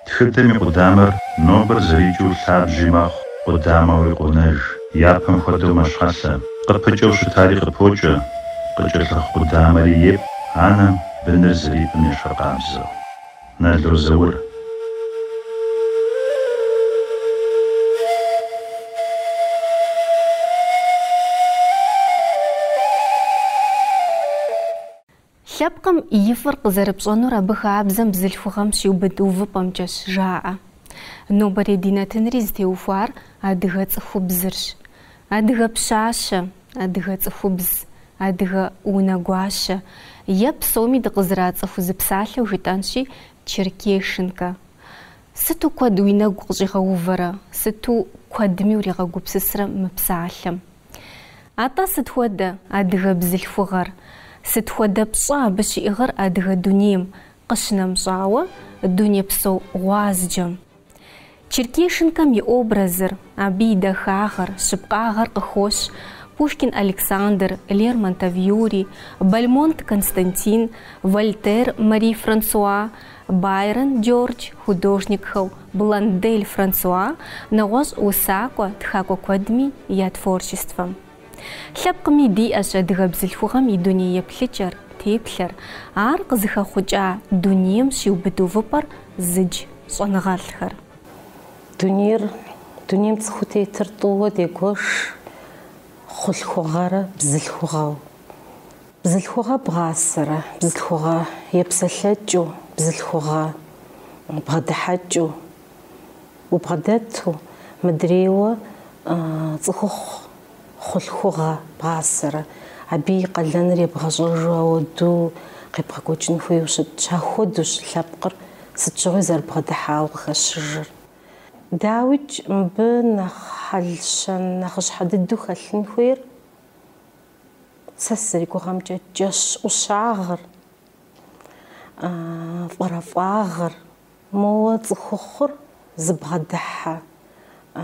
Тхыдэм и къудамэр нобэр зэрикӏыу лъабжьи мэхъу, къудамэуи къонэж, япэм хуэдэу мэщхьэлъэ. Къыпыкӏэу щытари къыпокӏэ, къыкӏэлъыхъу къудамэри епӏ анэм быныр зэрипӏым ещхьыркъабзэу. Нало Заур. Лъэпкъым и фӏыр къызэрыпщӏэнур абы хабзэм бзылъхугъэм щиубыд увыпӏэмкӏэщ, жаӏэ. Нобэрей ди нэтынри зытеухуар адыгэ цӏыхубзырщ. Адыгэ пщащэ, адыгэ цӏыхубз, адыгэ унэгуащэ е псоми дыкъызэрацӏыху зы псалъэу жытӏэнщи, черкешенкэ. Сыту куэд уи нэгу къыщӏигъэувэрэ, сыту куэдми уригъэгупсысрэ мы псалъэм. Атӏэ сыт хуэдэ адыгэ бзылъхугъэр, сыт хуэдэ пщӏэ абы щиӏыгъыр адыгэ дунейм къыщынэмыщӏауэ, дунейпсо гъуазджэм? Черкешенкэм и образыр, абы и дахагъэр, щыпкъагъэр къыхощ Пушкин Александр, Лермонтов Юрий, Бальмонт Константин, Вольтер Мари-Франсуа, Байрон Джордж художникхэу Блондель Франсуа нэгъуэщӏ усакӏуэ тхакӏуэ куэдми я творчествэм. Лъэпкъми диӏэщ адыгэ бзылъхугъэм и дуней еплъыкӏэр, теплъэр, ар къызыхэхъукӏа дунейм щиубыд увыпӏэр зыдж щӏэныгъэлӏхэр. Дунейр, дунейм цӏыхуу тетыр тӏууэ дегуэш хъулъхугъэрэ бзылъхугъэу. Бзылъхугъэ бгъасэрэ, бзылъхугъэ епсэлъэкӏыу, бзылъхугъэ бгъэдыхьэкӏыу, убгъэдэту, мыдрейуэ цӏыхухъу хъулъхугъэ бгъасэрэ, абы и къалэныр ебгъэщӏэжу ауэду къебгъэкӏуэкӏын хуейуэ щытщ, ахуэдущ лъэпкъыр сыт щыгъуи зэрыбгъэдыхьауэ къыхэщыжыр. Дауикӏ, мыбы нэхъ хьэл-щэн нэхъыщхьэ дыдэу хэлъын хуейр Сэ сызэригугъэмкӏэ джэщ ӏущагъыр, фӏэрэфӏагъыр, моуэ цӏыхухъур зыбгъэдыхьэ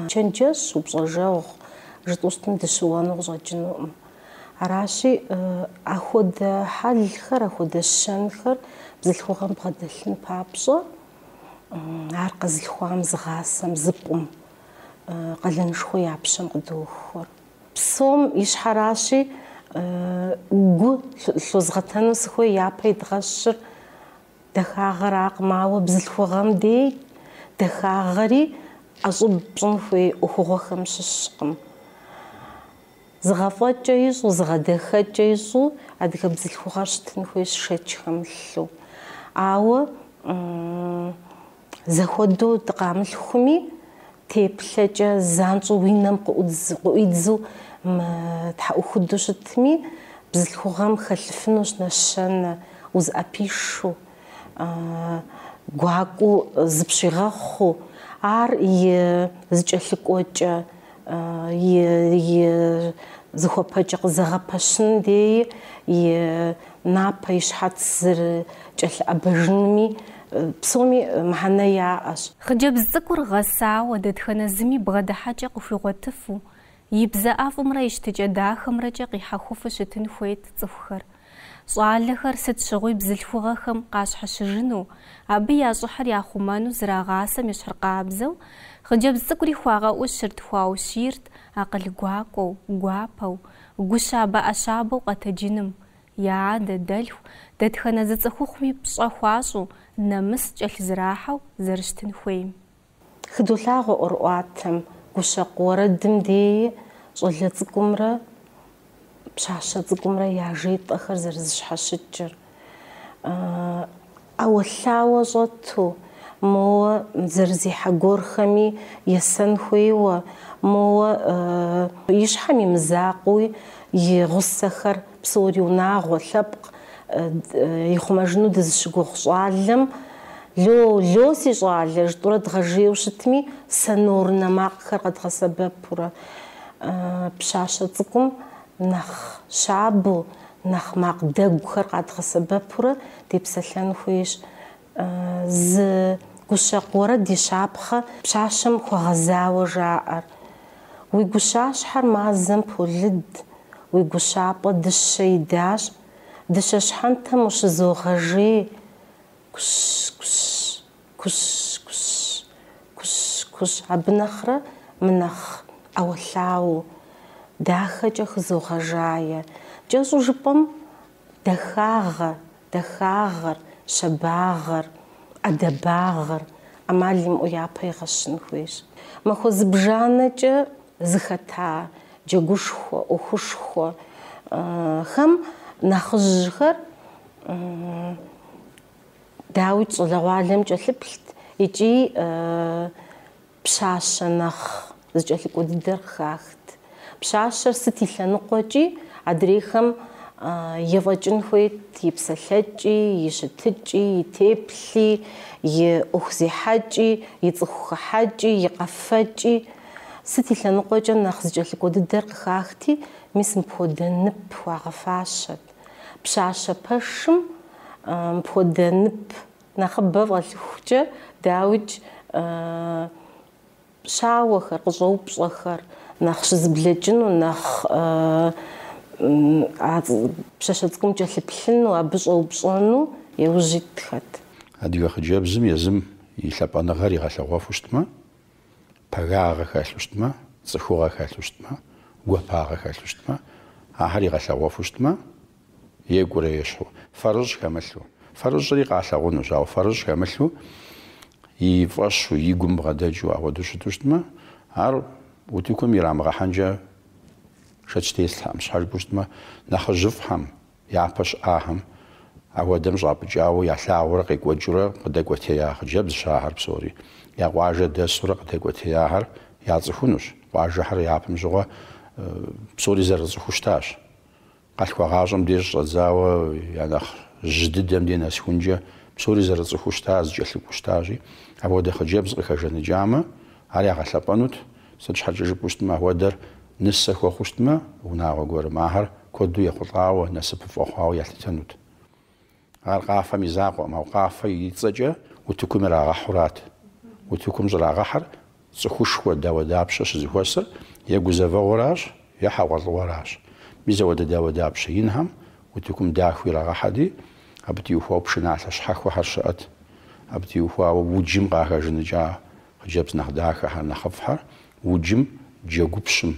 чэнджэщ, упщӏэжэгъу жытӏэу щытым дыщыуэну къыщӏэкӏынукъым. Аращи, ахуэдэ хьэлхэр, ахуэдэ щэнхэр бзылъхугъэм бгъэдэлъын папщӏэ, ар къэзылъхуам, зыгъасэм, зыпӏум, къалэнышхуэ я пщэм къыдохуэ. Псом ищхьэращи, гу лъозгъэтэну сыхуей япэ идгъэщыр дахагъэракъым, ауэ бзылъхугъэм дей дахагъэри ӏэщӏыб пщӏын хуей ӏуэхугъуэхэм щыщкъым. Зыгъэфӏэкӏэ ищӏу, зыгъэдахэкӏэ ищӏу адыгэ бзылъхугъэр щытын хуейщ шэч хэмылъу. Ауэ Зэхуэдэу дыкъамылъхуми, теплъэкӏэ занщӏэу уи нэм къыӏуидзу тхьэӏухуду щытми, бзылъхугъэм хэлъыфынущ нэщэнэ, узыӏэпишэу, гуакӏуэу зыпщигъэхъуу, ар и зыкӏэлъыкӏуэкӏэ. и зыхуэпэкӏэ къызэгъэпэщын деи, и напэ, и щхьэц зэрыкӏэлъыӏэбэжынми псоми мыхьэнэ яӏэщ. Хъыджэбз цӏыкӏур гъэсауэ, дэтхэнэ зыми бгъэдыхьэкӏэ къыхуигъуэтыфу, и бзэ ӏэфӏымрэ и щытыкӏэ дахэмрэкӏэ къихьэхуфу щытын хуейт цӏыхухэр. Щӏалэхэр сыт щыгъуи бзылъхугъэхэм къащхьэщыжыну, абы я щӏыхьыр яхъумэну зрагъасэм ещхьыркъабзэу, хъыджэбз цӏыкӏури хуагъэӏущырт, хуаущийрт акъыл гуакӏуэу, гуапэу, гущабэ-ӏэщабэу къэтэджыным, я адэ, дэлъху, дэтхэнэ зы цӏыхухъуми пщӏэ хуащӏу, нэмыс кӏэлъызэрахьэу зэрыщытын хуейм. Хыдолъагъуэ ӏуэрыӏуатэм, гущэкъу уэрэдым деи щӏалэ цӏыкӏумрэ пщащэ цӏыкӏумрэ яжетӏэхэр зэрызэщхьэщыкӏыр. ӏэуэлъауэ щӏэту, моуэ зэрызехьэ гуэрхэми есэн хуейуэ, моуэ и щхьэм и мызакъуи и гъусэхэр Псори унагъуэ, лъэпкъ ихъумэжыну дызыщыгугъ щӏалэм, Ло, ло, си щӏалэ! жытӏурэ дгъэжейуэ щытми, сонорнэ макъхэр къэдгъэсэбэпурэ, пщащэ цӏыкӏум нэхъ щабэу, нэхъ макъ дэгухэр къэдгъэсэбэпурэ депсэлъэн хуейщ. Зы гущэкъу уэрэд и щапхъэ пщащэм хуэгъэзауэ жаӏэр. Уи гущащхьэр мазэм полыд, уи гущапӏэ дыщэ идащ, дыщэ щхьэнтэм ущызогъэжей, кущ-кущ, кущ-кущ, кущ-кущ, абы нэхърэ мынэхъ ӏэуэлъауэу, дахэкӏэ хызогъэжае. Кӏэщӏу жыпӏэм, Дахагъэ, дахагъэр, щабагъэр, ӏэдэбагъэр ӏэмал имыӏэу япэ игъэщын хуейщ. Махуэ зыбжанэкӏэ зыхэта джэгушхуэ, ӏуэхушхуэхэм нэхъыжьхэр, дауикӏ, щӏалэгъуалэм кӏэлъыплът икӏи Пщащэ нэхъ зыкӏэлъыкӏуэ дыдэр къыхахт. Пщащэр сыт и лъэныкъуэкӏи, адрейхэм ефӏэкӏын хуейт и псэлъэкӏи, и щытыкӏи, и теплъи, и ӏуэху зехьэкӏи, и цӏыху хыхьэкӏи, и къэфэкӏи. Сыт и лъэныкъуэкӏэ нэхъ зыкӏэлъыкӏуэ дыдэр къыхахти, мис мыпхуэдэ нып хуагъэфащэт. Пщащэ пэшым мыпхуэдэ нып Нэхъыбэ фӏэлъыхукӏэ, дауикӏ, щауэхэр, къыщӏэупщӏэхэр нэхъ щызэблэкӏыну, нэхъ а пщащэ цӏыкӏум кӏэлъыплъыну, абы щӏэупщӏэну яужь итхэт. Адыгэ хъыджэбзым езым и лъапӏэныгъэр игъэлъэгъуэфу щытмэ, пагагъэ хэлъу щытмэ, цӏыхугъэ хэлъу щытмэ, гуапагъэ хэлъу щытмэ, ахэр игъэлъэгъуэфу щытмэ, Екӏурэ ещхьу, фэрыщӏ хэмылъу. Фэрыщӏри къалъагъунущ, ауэ фэрыщӏ хэмылъу, и фӏэщу, и гум бгъэдэкӏыу апхуэдэу щыту щытмэ, ар утыкум ирамыгъэхьэнкӏэ шэч теслъхьэкъым. Щхьэ жыпӏэу щытмэ, нэхъыжьыфӏхэм, япэ щыӏахэм апхуэдэм щӏапӏыкӏауэ ялъагъуурэ къекӏуэкӏыурэ къыдэкӏуэтея хъыджэбзщ ахэр псори. Я къуажэ дэсурэ къыдэкӏуэтеяхэр яцӏыхунущ. Къуажэхэр япэм щыгъуэ псори зэрыцӏыхуу щытащ. Къалъхуагъащӏэм деж щӏэдзауэ я нэхъ жьы дыдэм де нэсхункӏэ псори зэрыцӏыхуу щыта, зыкӏэлъыкӏуэу щытащи, апхуэдэ хъыджэбз къыхэжаныкӏамэ, ар ягъэлъэпӏэнут, сыт щхьэкӏэ жыпӏэу щытмэ, апхуэдэр нысэ хуэхъуу щытмэ, унагъуэ гуэрым ахэр куэду ехъулӏауэ, насыпыфӏэ хъуауэ ялъытэнут. Ар къафэм и закъуэкъым, ауэ къафэ и цӏэкӏэ утыкум ирагъэхьурат. Утыкум щӏрагъэхьэр цӏыхушхуэ дауэдапщэ щызэхуэсыр е гузэвэгъуэращ, е хьэгъуэлӏыгъуэращ. Мис ауэдэ дауэдапщэ инхэм утыкум дахэу ирагъэхьэти, абы теухуауэ пшыналъэ щхьэхуэхэр щыӏэт. Абы теухуауэ уджым къахэжаныкӏа хъыджэбз нэхъ дахэхэр, нэхъыфӏхэр, уджым джэгупщым,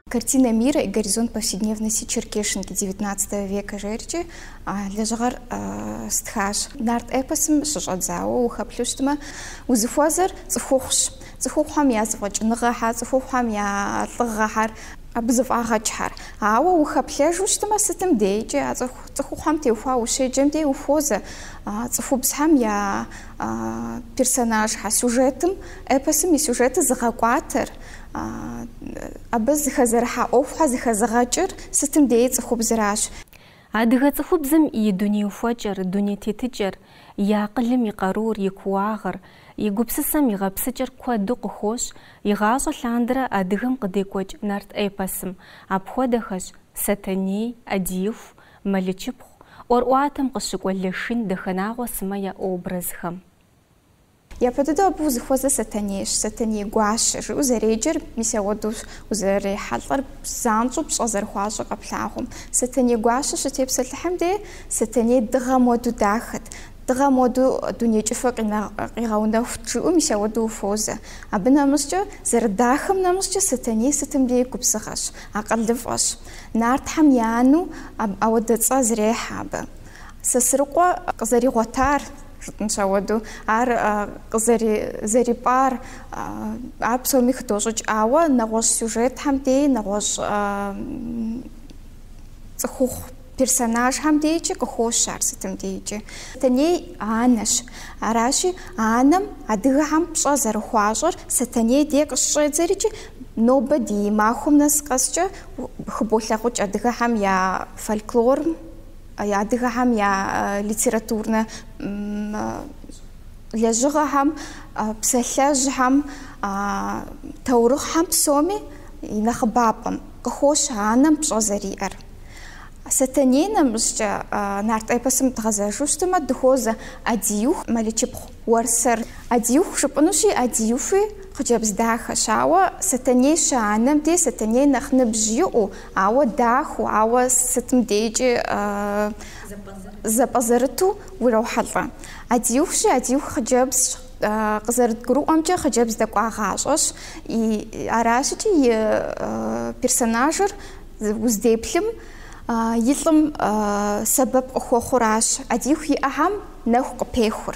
Картина мира и горизонт повседневности черкешенки девятнадцатого века жеркӏи а лэжьыгъэр стхащ. Нарт эпосым щыщӏэдзауэ ухэплъу щытмэ, узыхуэзэр цӏыхухъущ. Цӏыхухъухэм я зэфӏэкӏыныгъэхьэр, цӏыхухъухэм я лӏыгъэхьэр, абы зэфӏагъэкӏхэр. Ауэ ухэплъэжу щытмэ, сытым дейкӏи а цӏыхухъухэм теухуа ущеджэм дей ухуозэ цӏыхубзхэм я персонажхьэр, сюжетым, эпосым и сюжетыр зыгъэкӏуатэр, Абы зэхэзэрыхьа ӏуэхухьэ зэхэзыгъэкӏыр сытым деи цӏыхубзращ. Адыгэ цӏыхубзым и дуней ухуэкӏэр, дуней тетыкӏэр, и акъылым и къарур, и кууагъыр, и гупсысэм и гъэпсыкӏэр куэду къыхощ игъащӏэ лъандэрэ адыгэм къыдекӏуэкӏ нарт эпосым, апхуэдэхэщ, Сэтэней, ӏэдииху, Мэлычыпхъу, ӏуэрӏуатэм къыщыкӏуэ Лашын, Дахэнагъуэ сымэ я образхэм. Япэ дыдэу абы узыхуэзэр Сэтэнейщ, Сэтэней гуащэ, жиӏэу зэреджэр, мис ауэдэущ узэрырехьэлӏэр, занщӏэу пщӏэ зэрыхуащӏыр къэплъагъум. Сэтэней гуащэ щытепсэлъыхьым де, Сэтэней дыгъэм уэду дахэт, дыгъэм уэду дуней кӏыфӏыр къигъэунэхут жиӏэу мис ауэдэу ухуозэ. Абы нэмыщӏкӏэ, зэрыдахэм нэмыщӏкӏэ, Сэтэней сытым дей губзыгъэщ, акъылыфӏэщ. Нартхьэм и анэу ауэдэ цӏэ зрехьэ абы. Сосрыкъуэ къызэригъуэтар. Жытӏэнщ ауэду, ар къызэри... зэрипӏар, ар псоми хыдощӏыкӏ, ауэ нэгъуэщӏ сюжетхэм дей, нэгъуэщӏ цӏыхухъу персонажхэм дейкӏи къыхощ ар сытым дейкӏи. Сэтэней анэщ. Аращи, анэм адыгэхэм пщӏэ зэрыхуащӏыр Сэтэней дей къыщыщӏедзэрикӏи, нобэ ди махуэм нэс къэскӏэ хыболъагъукӏ адыгэхэм я фольклорым, Адыгэхэм я литературнэ лэжьыгъэхэм, псалъэжьхэм, таурыхъхэм псоми и нэхъыбапӏэм къыхощ анэм пщӏэ зэриӏэр. Сэтэней нэмыщӏкӏэ нарт эпосым дгъэзэжу щытымэ, дыхуозэ Адиюх, Мэлычыпхъу, Уэрсэр. Адиюх жыпӏэнущи, Адиюхи хъыджэбз дахэщ, ауэ Сэтэней щыанэм дей Сэтэней нэхъ ныбжь иӏэу, Ауэ дахэу, ауэ сытым дейкӏи зэпӏэзэрыту урохьэлӏэ. Адиюхщи, Адиюх хъыджэбзщ. Къызэрыдгурыӏуэмкӏэ, хъыджэбз дэкӏуагъащӏэщ. Аращыкӏи и персонажыр уздеплъым и лӏым сэбэп къыхуэхъуращ, Адиюх и ӏэхэм нэху къыпехур.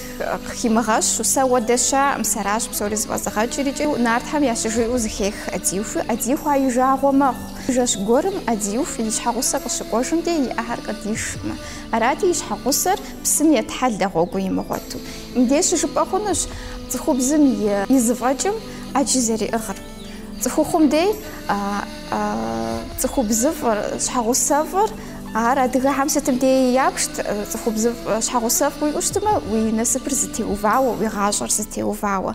Къыхимыгъэщу, сэ уэдэ щаӏым, сэращ псори зыфӏэзыгъэкӏыр икӏи нартхэм ящыжиӏэу зыхех Адиюхи, Адиюх а и жагъуэ мэхъу. Жэщ гуэрым Адиюх и щхьэгъусэр къыщыкӏуэжым де и ӏэхэр къыдишмэ. Арати, и щхьэгъусэр псым етхьэлэ гъуэгу имыгъуэту. Мыбдеж щыжыпӏэ хъунущ цӏыхубзым и зыфӏэкӏым ӏэджи зэриӏыгъыр. Цӏыхухъум дей цӏыхубзыфӏыр, щхьэгъусэфӏыр, ар адыгэхэм сытым дей япшт, цӏыхубзыфӏ, щхьэгъусэфӏ уиӏэу щытмэ, уи насыпыр зытеувауэ, уи гъащӏэр зытеувауэ.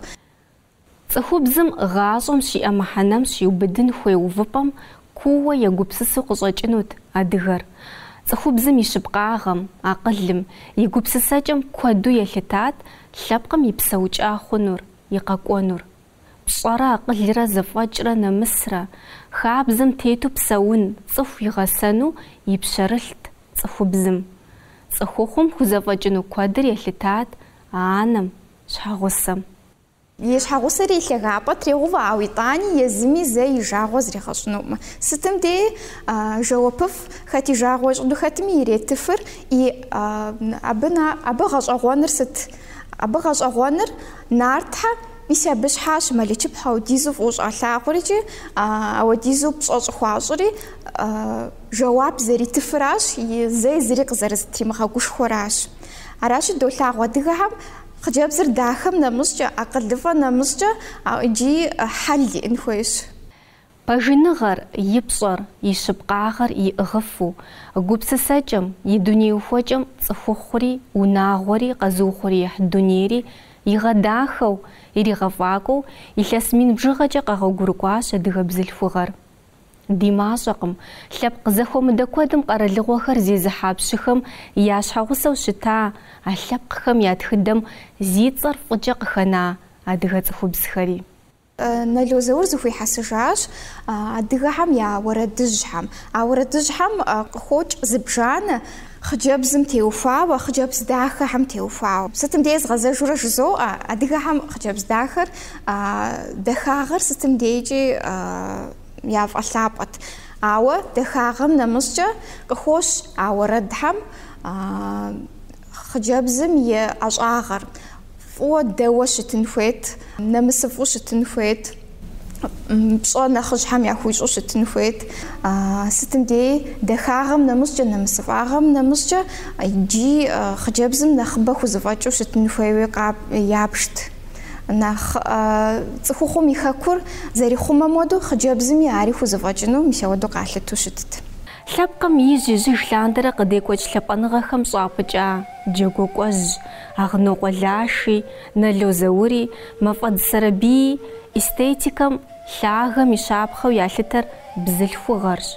Цӏыхубзым гъащӏэм щиӏэ мыхьэнэм щиубыдын хуей увыпӏэм куууэ егупсысу къыщӏэкӏынут адыгэр. Цӏыхубзым и щыпкъагъэм, акъылым, и гупсысэкӏэм куэду елъытат лъэпкъым и псэукӏа хъунур, и къэкӏуэнур. Пщӏэрэ акъылрэ зэфӏэкӏрэ нэмысрэ, хабзэм тету псэун цӏыху игъэсэну и пщэрылът цӏыхубзым. Цӏыхухъум хузэфӏэкӏыну куэдыр елъытат анэм, щхьэгъусэм. И щхьэгъусэри и лъагапӏэ трегъэувэ, ауэ итӏани езыми зэ и жагъуэ зригъэщӏынукъым. Сытым дей жэуапыфӏ, хэт и жагъуэ ищӏыну хэтми иретыфыр, и абы абы гъэщӏэгъуэныр сыт? Абы гъэщӏэгъуэныр нартхьэ. Мис абы щхьащ Мэлычыпхъу аудизу фӏыуэ щӏалъагъури икӏи ауэдизу пщӏэ щӏыхуащӏри, жэуап зэритыфыращ, и зэи зыри къызэрызытримыгъэгушхуэращ. Аращи, долъагъу адыгэхэм хъыджэбзыр дахэм нэмыщӏкӏэ, акъылыфӏэ нэмыщӏкӏэ иджы хьэл иӏэн хуейщ. Пэжыныгъэр, и пщӏэр, и щыпкъагъэр иӏыгъыфу, гупсысэкӏэм, и дуней ухуэкӏэм цӏыхухъури, унагъуэри, къэзыухъуреихь дунейри игъэдахэу, иригъэфӏакӏуэу илъэс мин бжыгъэкӏэ къэгъуэгурыкӏуащ адыгэ бзылъхугъэр. Ди мащӏэкъым, лъэпкъ зэхуэмыдэ куэдым къэралыгъуэхэр зезыхьа пщыхэм я щхьэгъусэу щыта а лъэпкъхэм я тхыдэм зи цӏэр фӏыкӏэ къыхэна адыгэ цӏыхубзхэри. Нало Заур зыхуихьэсыжащ адыгэхэм я уэрэдыжьхэм. А уэрэдыжьхэм къыхокӏ зыбжанэ, хъыджэбзым теухуауэ, хъыджэбз дахэхэм теухуауэ. Сытым дей згъэзэжурэ жызоӏэ, адыгэхэм хъыджэбз дахэр, дахагъэр сытым дейкӏи яфӏэлъапӏэт. Ауэ дахагъэм нэмыщӏкӏэ къыхощ а уэрэдхэм. Хъыджэбзым и ӏэщӏагъэр фӏыуэ дэуэ щытын хуейт, нэмысыфӏу щытын хуейт, пщӏэ нэхъыжьхэм яхуищӏу щытын хуейт. Сытым дей дахагъэм нэмыщӏкӏэ, нэмысыфӏагъэм нэмыщӏкӏэ иджы хъыджэбзым нэхъыбэ хузэфӏэкӏыу щытын хуейуи ябжт. Нэхъ цӏыхухъум и хэкур зэрихъумэм уэдэу хъыджэбзыми ари хузэфӏэкӏыну мис ауэдэу къалъыту щытт. Лъэпкъым ижь-ижьыж лъандэрэ къыдекӏуэкӏ лъапӏэныгъэхэм щӏапӏыкӏа джэгуакӏуэжь Агънокъуэ Лаши, Нало Заури, Мафӏэдз Сэрэбийи эстетикэм, лъагэм и щапхъэу ялъытэр бзылъхугъэрщ.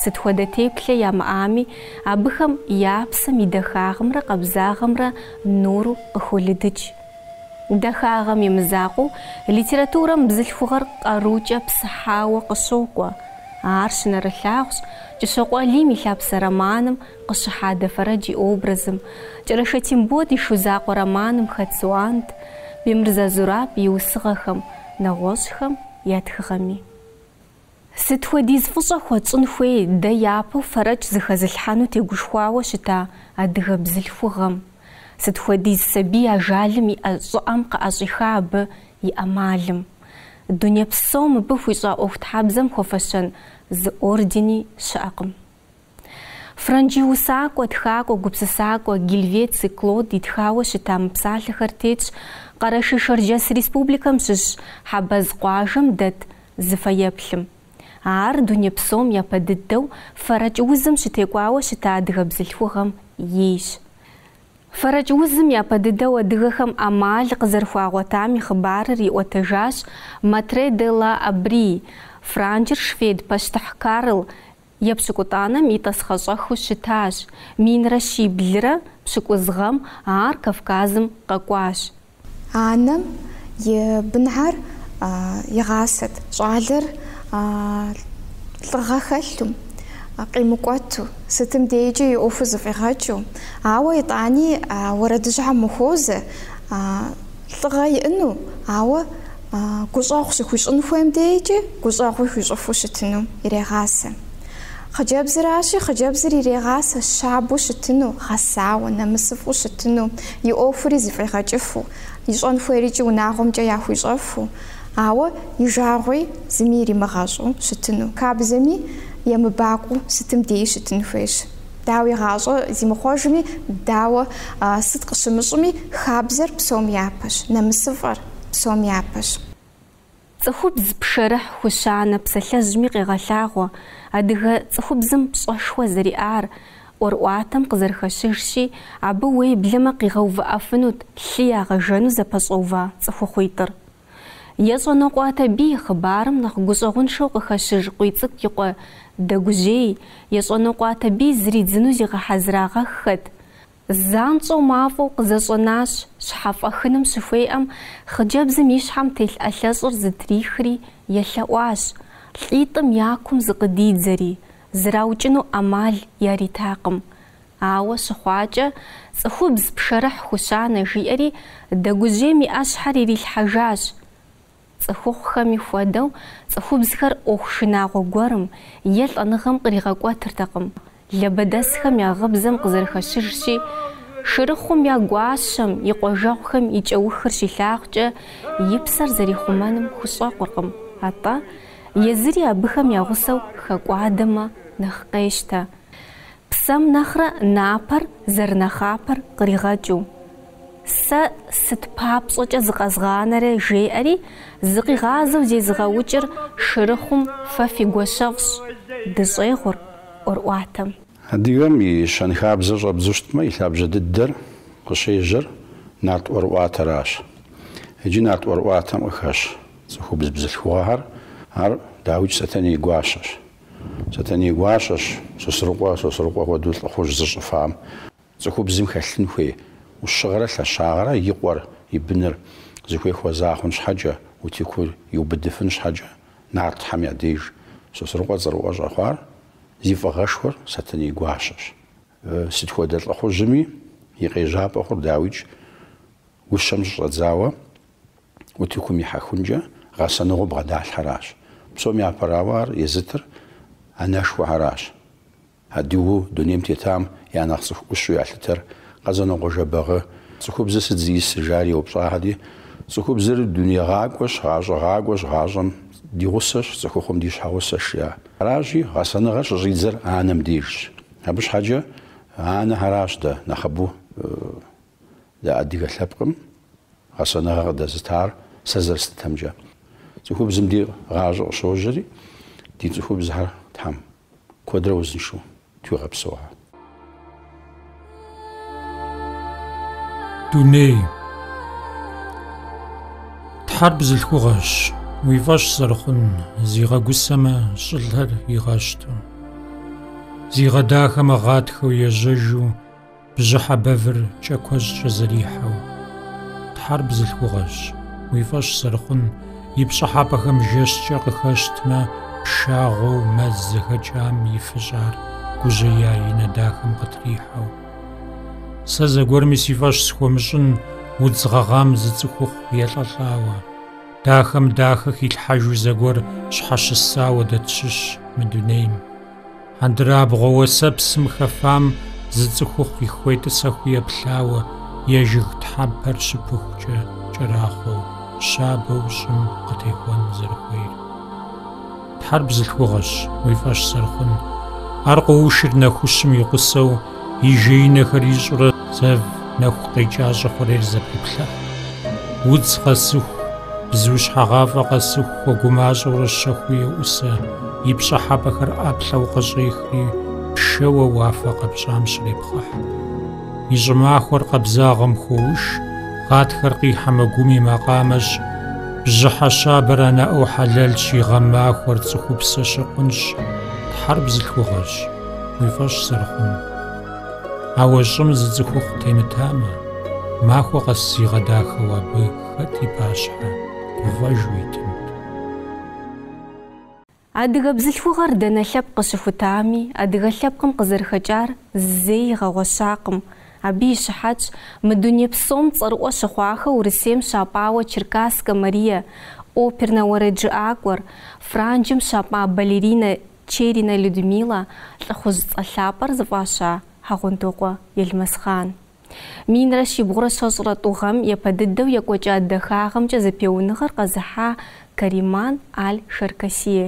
Сыт хуэдэ теплъэ ямыӏами, абыхэм я псэм и дахагъымрэ къабзагъымрэ нуру къыхолыдыкӏ. Дахагъэм и мызакъуэу литературэм бзылъхугъэр къарукӏэ псыхьауэ къыщокӏуэ. Ар щынэрылъагъущ Кӏыщокъуэ Алим и Лъапсэ романым къыщыхьа Дэфэрэдж и образым, Кӏэрашэ Тембот и Шу закъуэ романым хэт Суанд, Бемырзэ Зураб и усыгъэхэм, нэгъуэщӏхэм я тхыгъэми. Сыт хуэдиз фӏыщӏэ хуэтщӏын хуей дэ япэу фэрэкӏ зыхэзылъхьэну тегушхуауэ щыта адыгэ бзылъхугъэм? Сыт хуэдиз сабий ажалым и ӏэ щӏыӏэм къыӏэщӏиха абы и ӏэмалым? Дуней псом мыбы хуищӏа ӏуэхутхьэбзэм хуэфэщэн зы ордени щыӏэкъым. Франджы усакӏуэ, тхакӏуэ, гупсысакӏуэ Гельвеци Клод итхауэ щыта мы псалъэхэр тетщ Къэрэшей-Шэрджэс Республикэм щыщ Хьэбэз къуажэм дэт зы фэеплъым. Ар дуней псом япэ дыдэу фэрэкӏ узым щытекӏуауэ щыта адыгэ бзылъхугъэм ейщ. Фэрэкӏ узым япэ дыдэу адыгэхэм ӏэмал къызэрыхуагъуэтам и хъыбарыр иӏуэтэжащ Матре де ла Абри, франджыр швед пащтыхь Карл Епщыкӏутӏанэм и тӏасхъэщӏэхыу щытащ, минрэ щиблрэ пщыкӏуз гъэм ар Кавказым къэкӏуащ. Анэм и бынхьэр игъасэт, щӏалэр лӏыгъэ хэлъу, къимыкӏуэту, сытым дейкӏи и ӏуэху зыфӏигъэкӏыу, ауэ итӏани уэрэдыжьыхьэм ухуозэ, лӏыгъэ иӏыну, ауэ Гущӏэгъу щыхуищӏын хуейм дейкӏи гущӏэгъуи хуищӏыфу щытыну ирегъасэ. Хъыджэбзыращи, хъыджэбзыр ирегъасэ щабэу щытыну, гъэсауэ, нэмысыфӏу щытыну, и ӏуэхури зыфӏигъэкӏыфу, ищӏэн хуейрикӏи унагъуэмкӏэ яхуищӏэфу, ауэ и жагъуи зыми иримыгъэщӏу щытыну, хабзэми емыбакъуэу сытым деи щытын хуейщ. Дауэ и гъащӏэ зимыхъуэжми, дауэ сыт къыщымыщӏми, хабзэр псом япэщ, нэмысыфӏэр. псом япэщ. Цӏыхубз пшэрыхь хущанэ псалъэжьми къегъэлъагъуэ адыгэ цӏыхубзым пщӏэшхуэ зэриӏар, ӏуэрыӏуатэм къызэрыхэщыжщи, абы уеблэмэ къигъэувыӏэфынут лъы ягъэжэну зэпэщӏэува цӏыхухъуитӏыр. Ещӏэнокъуэ Атэбий хъыбарым нэхъ гущӏэгъуншэу къыхэщыж Къуийцӏыкӏу и къуэ Дэгужьей Ещӏэнокъуэ Атэбий зридзыну зигъэхьэзырагъэххэт, Занщӏэу мафӏэу къызэщӏэнащ щхьэфӏэхыным щыхуеӏэм, хъыджэбзым и щхьэм телъ ӏэлъэщӏыр зытрихри, елъэӏуащ, лӏитӏым я кум зыкъыдидзэри, зраукӏыну ӏэмал яритакъым. Ауэ щыхъуакӏэ, цӏыхубз пшэрыхь хущанэ, жиӏэри, Дэгужьейм и ӏэщхьэр ирилъхьэжащ. Цӏыхухъухэми хуэдэу, цӏыхубзхэр ӏуэху шынагъуэ гуэрым е лӏэныгъэм къригъэкӏуэтыртэкъым, лабэдэсхэм я гъыбзэм къызэрыхэщыжщи, Шырыхъум я гуащэм и къуажэгъухэм и кӏэухыр щилъагъукӏэ, и псэр зэрихъумэным хущӏэкъуркъым, атӏэ, езыри абыхэм я гъусэу хэкӏуадэмэ, нэхъ къещтэ. Псэм нэхърэ напэр зэрынэхъапэр къригъэкӏыу. Сэ сыт папщӏэкӏэ зыкъэзгъанэрэ жеӏэри, зыкъигъазэу зезыгъэукӏыр шырыхъум фэ фи гуащэфӏщ, дыщӏегъур ӏуэрыӏуатэм. Адыгэм и щэнхабзэр щӏэбдзу щытмэ, и лъабжьэ дыдэр къыщежьэр нарт ӏуэрыӏуатэращ. Иджы нарт ӏуэрыӏуатэм къыхэщ цӏыхубз бзылъхугъэхэр, ар дауикӏ Сэтэней гуащэщ. Сэтэней гуащэщ Сосрыкъуэ, Сосрыкъуэ хуэдэу лӏыхъужь зыщӏыфам. Цӏыхубзым хэлъын хуей ӏущыгъэрэ лъэщагъэрэ и къуэр, и быныр зыхуей хуэза хъун щхьэкӏэ, утыкур иубыдыфын щхьэкӏэ нартхэм я деж Сосрыкъуэ цӏэрыӏуэ щӏэхъуар, зи фӏыгъэшхуэр Сэтэней гуащэщ. Сыт хуэдэ лӏыхъужьми и къежьапӏэ хъур дауикӏ, гущэм щыщӏэдзауэ утыкум ихьэхункӏэ гъэсэныгъэу бгъэдалъхьэращ. Псом япэрауэ ар езытыр анэшхуэхэращ. Адыгэу дунейм тетам я нэхъ цӏыху ӏущу ялъытэр Къэзанокъуэ Жэбагъы цӏыхубзыр сыт зиӏысыр жари еупщӏахэри, цӏыхубзыр дунейгъакӏуэщ, гъащӏэгъакӏуэщ, гъащӏэм ди гъусэщ, цӏыхухъум ди щхьэгъусэщ, жа. Аращи, гъэсэныгъэр щыщӏидзэр анэм дежщ. Абы щхьэкӏэ анэхэращ дэ нэхъыбэу дэ адыгэ лъэпкъым гъэсэныгъэр къыдэзытар сэ зэрыслъытэмкӏэ. Цӏыхубзым ди гъащӏэ къыщожьэри, ди цӏыхубзхэр Тхьэм. Куэдрэ узыншэу тхуигъэпсэухэ. Дуней. Тхьэр бзылъхугъэщ, уи фӏэщ зэрыхъун, зигъэгусэмэ, щӏылъэр игъэщту. Зигъэдахэмэ, гъатхэу, ежьэжу. Бжьыхьэ бэвыр кӏэкуэщӏкӏэ зэрихьэу. Тхьэр бзылъхугъэщ, уи фӏэщ зэрыхъун, и пщӏыхьэпӏэхэм жэщкӏэ къыхэщтмэ, пшагъуэу мэз зэхэкӏам ифыщӏар гужьея и нэ дахэм къытрихьэу. Сэ зэгуэрми си фӏэщ схуэмыщӏын удз гъэгъам зы цӏыхухъу елӏэлӏауэ. Дахэм дахэ хилъхьэжу зэгуэр щхьэщысауэ дэ тщыщ мы дунейм. Хьэндырабгъуэ уэсэпсым хэфам зы цӏыхухъуи хуетӏысэхыу еплъауэ е жыг тхьэмпэр щыпыхукӏэ кӏэрахъуэу, щабэу щӏым къытехуэн зэрыхуейр. Тхьэр бзылъхугъэщ, уи фӏэщ зэрыхъун. Ар къоушыр нэхущым и гъусэу, и жеинэхэр ищӏурэ зэв нэху къекӏа щӏы хъурейр зэпеплъыхь. Удз къэсыху, бзу щхьэгъафӏэ къэсыху хуэгумащӏэурэ щэхуу еӏусэ, и пщӏыхьэпӏэхэр ӏэплӏэу къыщӏехри, пшэуэ уафэ къэпщӏам щрепхъыхь. И щӏымахуэр къабзагъэм хоуш, гъатхэр къихьэмэ гум и макъамэщ, бжьыхьэ щабэр анэ ӏэу хьэлэлщ, и гъэмахуэр цӏыхупсэ щыкъунщ, Тхьэр бзылъхугъэщ. Уи фӏэщ зэрыхъун. Ауэ щӏым зы цӏыхухъу темытамэ, махуэ къэс зигъэдахэу абы хэт и пащхьэ гуфӏэжу итынт? Адыгэ бзылъхугъэр дэнэ лъэпкъ къыщыхутами, адыгэ лъэпкъым къызэрыхэкӏар зэи игъэгъуэщакъым. Абы и щыхьэтщ мы дуней псом цӏэрыӏуэ щыхъуахэу Урысейм щапӏауэ Черкасскэ Марие, опернэ уэрэджыӏакӏуэр, Франджым щапӏа балеринэ Черинэ Людмилэ лӏыхъужь цӏэ лъапӏэр зыфӏаща Хьэгъундокъуэ Елмэсхъан. Минрэ щибгъурэ щэщӏрэ тӏу гъэм япэ дыдэу екӏуэкӏа дахагъэмкӏэ зэпеуэныгъэр къэзыхьа Кариман Аль Шаркасие.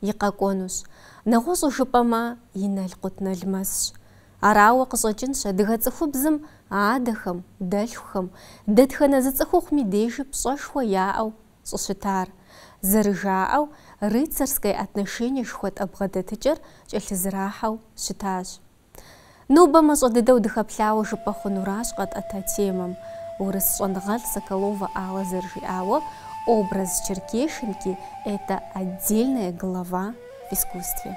и къэкӏуэнущ. Нэгъуэщӏу жыпӏэмэ, и налкъутналмэсщ. Арауэ къыщӏэкӏынщ адыгэ цӏыхубзым адэхэм, дэлъхухэм, дэтхэнэ зы цӏыхухъуми дежи пщӏэшхуэ яӏэу щӏыщытар. Зэрыжаӏэу, рыцарское отношение жыхуэтӏэ бгъэдэтыкӏэр кӏэлъызэрахьэу щытащ. Нобэ мащӏэ дыдэу дыхэплъауэ жыпӏэ хъунуращ къэтӏэта темэм. Урыс щӏэныгъэлӏ Соколовэ Алла зэрыжиӏауэ, образ черкешенки это отдельная глава в искусстве.